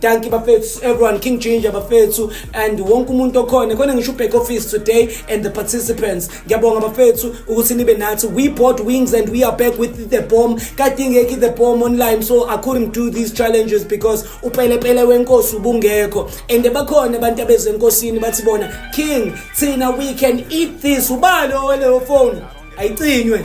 Dankie bafethu everyone King Ginger bafethu and wonke umuntu okhona khona ngisho back office today and the participants ngiyabonga bafethu ukuthi nibe nathi we bought wings and we are back with the bomb kadingeki the bomb online so I couldn't do these challenges because upelepele wenkosi ubungekho and bakhona abantu abeze enkosini bathi bona king thina we can eat this ubalo weleyo phone ayicinywe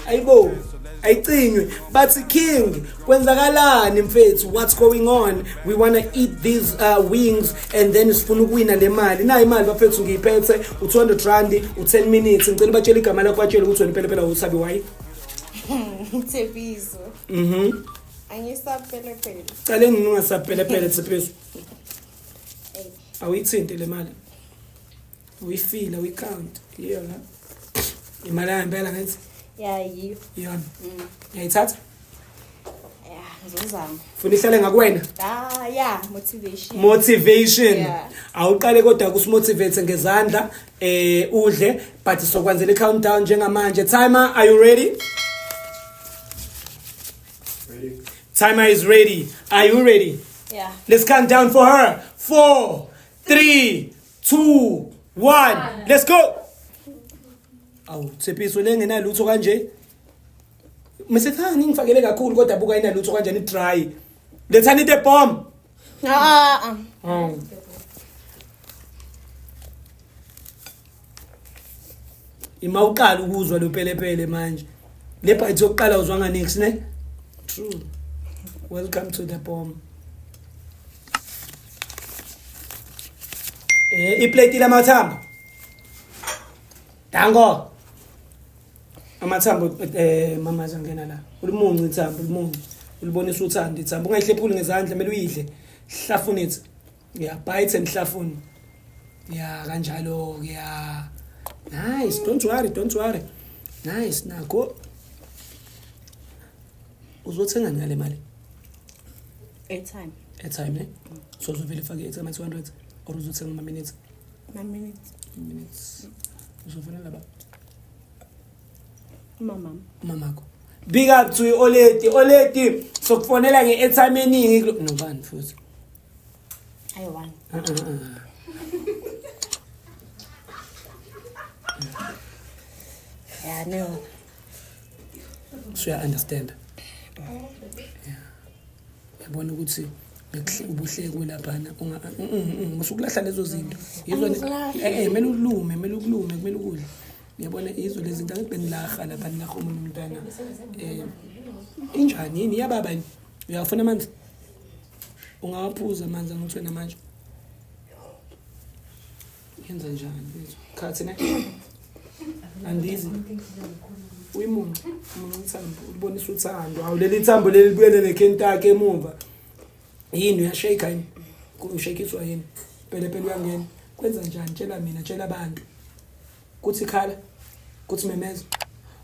ayibo ayicinywe bathi king kwenzakalani mfethu what's going on we want to eat these uh, wings and then sifuna ukuwina le mali nayo imali bafethu ngiyiphethe u-200 rand u-10 minutes ngicela ubatshela igama lakho batshele ukuthi wena impela phela usabi wayi thebizo mhm angisapelepele cale nginungasapelepele thebizo awuyithinte le mali uyifile uyikhawunti iyona imali yangempela ngithi yayiyo iyona mm. yayithatha ngizozama funa ihlale ngakwena ah yeah motivation motivation yeah. awuqale kodwa kusimotivate ngezandla eh udle but sokwenzela i-countdown njengamanje timer are you ready ready timer is ready are you ready yeah let's count down for her four three two one let's go awu tshepiso lengenalutho kanje Msethani ngifakele kakhulu kodwa buka inalutho kanjani dry. Lethani the bomb. Ah ah. ah. Ima uqala ukuzwa lo pelepele manje. Le bite yokuqala uzwa nga next ne? True. Welcome to the bomb. Eh iplate lamathamba. Dango. amathambo eh mama zangena la ulimunci ithambo ulimunci ulibonisa uthanda ithambo ungayihlephuli ngezandla kumele uyidle hlafuna ithi ya bite and hlafuna ya kanjalo ke ya nice don't worry don't worry nice nako uzothenga ngale mali airtime airtime ne so uzovele fake airtime 200 or uzothenga ama minutes ama minutes minutes uzofonela baba Mama. Mamako. Big up to you Oleti. Oleti sokufonela nge-airtime eningi nobani futhi. Ayi one. Uh uh uh. Yeah, no. Sure, I understand. Yeah. yabona ukuthi ubuhlekwe laphana usukulahla lezo zinto eh, eh, mele ulume mele ukulume kumele ukudla yabona yizo lezi zinto angithi benilaha lapha nilaha omunye umntwana um injani yini iyababa yini uyawafuna amanzi ungawaphuza amanzi angithwe namanje Yenza njani mfethu? Khathi ne. Andizi. Uyimunca. Munca ithambo. Ulibonisa uthando. Awu leli thambo leli libuyele nekhentake emuva. Yini uyashake yini? Ushekiswa yini? Phela phela uyangena. Kwenza njani? Tshela mina, tshela abantu. Kuthi khala. Kuthi memeza.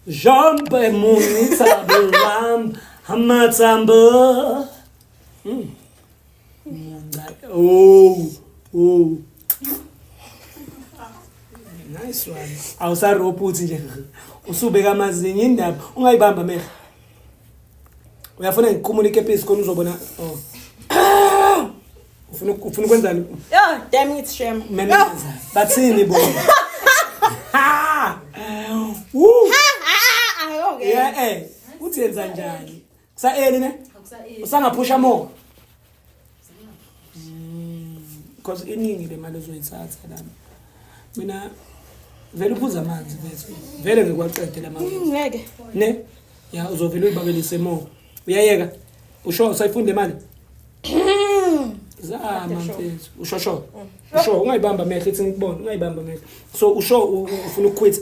Jumpe munca ithambo lam. Amathambo. Mm. Munca. Oh. Oh. Nice one. Awusarobha uthi nje usubeka amazinyo indaba ungayibamba mehla. Uyafuna ngikhumule ikepisi khona uzobona. Oh. Ufuna ufuna ukwenzani? Yeah, damn it shame. Mina ngenza. Bathini bo? Ha! Woo! Ha! Ha! Ayoke. Yeah, eh. Uthi yenza njani? Kusa early ne? Usangaphusha more. Because iningi le mali ozoyithatha lana. Mina vele uphuza amanzi mfethu. Vele ngikwaqede la mali. Ngeke. Ne? Ya uzovele uyibabelise more. Uyayeka. Usho usayifunde mali. Zama mfethu. Usho sho. Usho ungayibamba amehlo ithi ngikubone ungayibamba amehlo. So usho ufuna ukuquit.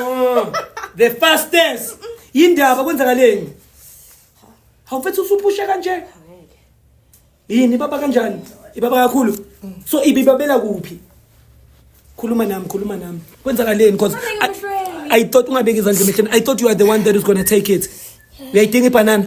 Oh, the fast dance yindaba kwenzakaleni hawu mfethu usuphushe kanje Angeke. yini ibaba kanjani ibaba kakhulu so ibibabela kuphi khuluma nami khuluma nami kwenzakaleni cause Fanele I, ngihlwele. i thought ungabeki izandla emehleni i thought you are the one that is gonna take it uyayidinga ibhanana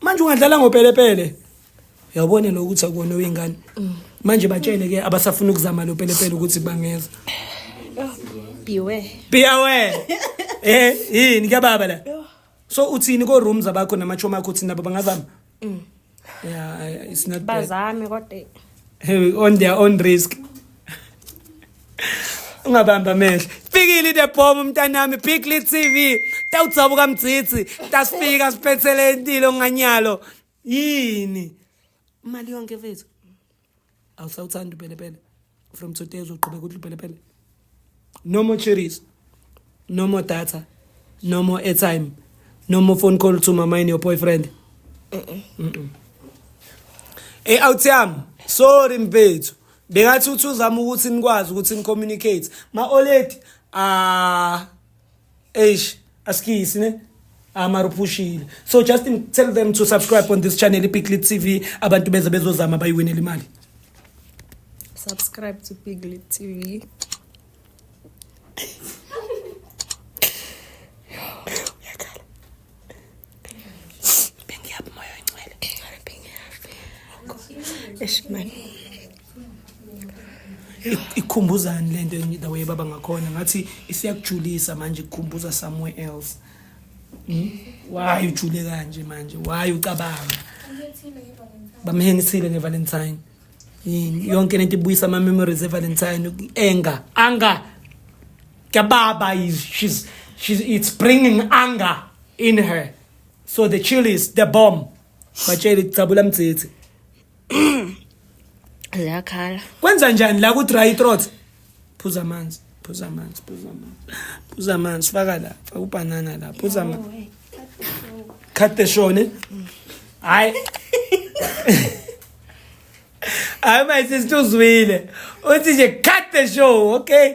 manje ungadlala ngopelepele yawubone lo ukuthi akona wengane manje batshele ke abasafuna ukuzama lo pelepele ukuthi bangeza biwe biwe eh yini ke baba la so uthini ko rooms abakho namachomi akho uthini nabo bangazama mm. yeah it's not bazame kodwa on their own risk ungabamba amehlo fikile the bomb mntanami big lead tv tawudzabuka mdzidzi tasifika siphethele intilo nganyalo yini imali yonke mfethu awusawuthanda upelepele from today uzoqhubeka uthi upelepele no more cherries no more data no more airtime no more phone call to mama and your boyfriend ey out yami sorry mfethu bengathi uthi uzama ukuthi nikwazi ukuthi nicommunicate ma-oledi ah eish asikisi ne amaruphushile so just tell them to subscribe on this channel ipiglit tv abantu beze bezozama bayiwinela imali subscribe to piglit tv ikhumbuzani lento the way baba ngakhona ngathi isiyakujulisa manje kukhumbuza somewhere else hmm? why ujule kanje manje why ucabanga bamhengisile ngevalentine yini yonke lento ibuyisa ama memories evalentine anger anger kababa is she's she's it's bringing anger in her so the chill is the bomb batshele kucabula mdzithi ziyakhala kwenza njani la ku dry throat phuza amanzi phuza amanzi phuza amanzi phuza amanzi faka la faka ubhanana la phuza amanzi cut the show ne hayi hayi mayisisi uzwile uthi nje cut the show okay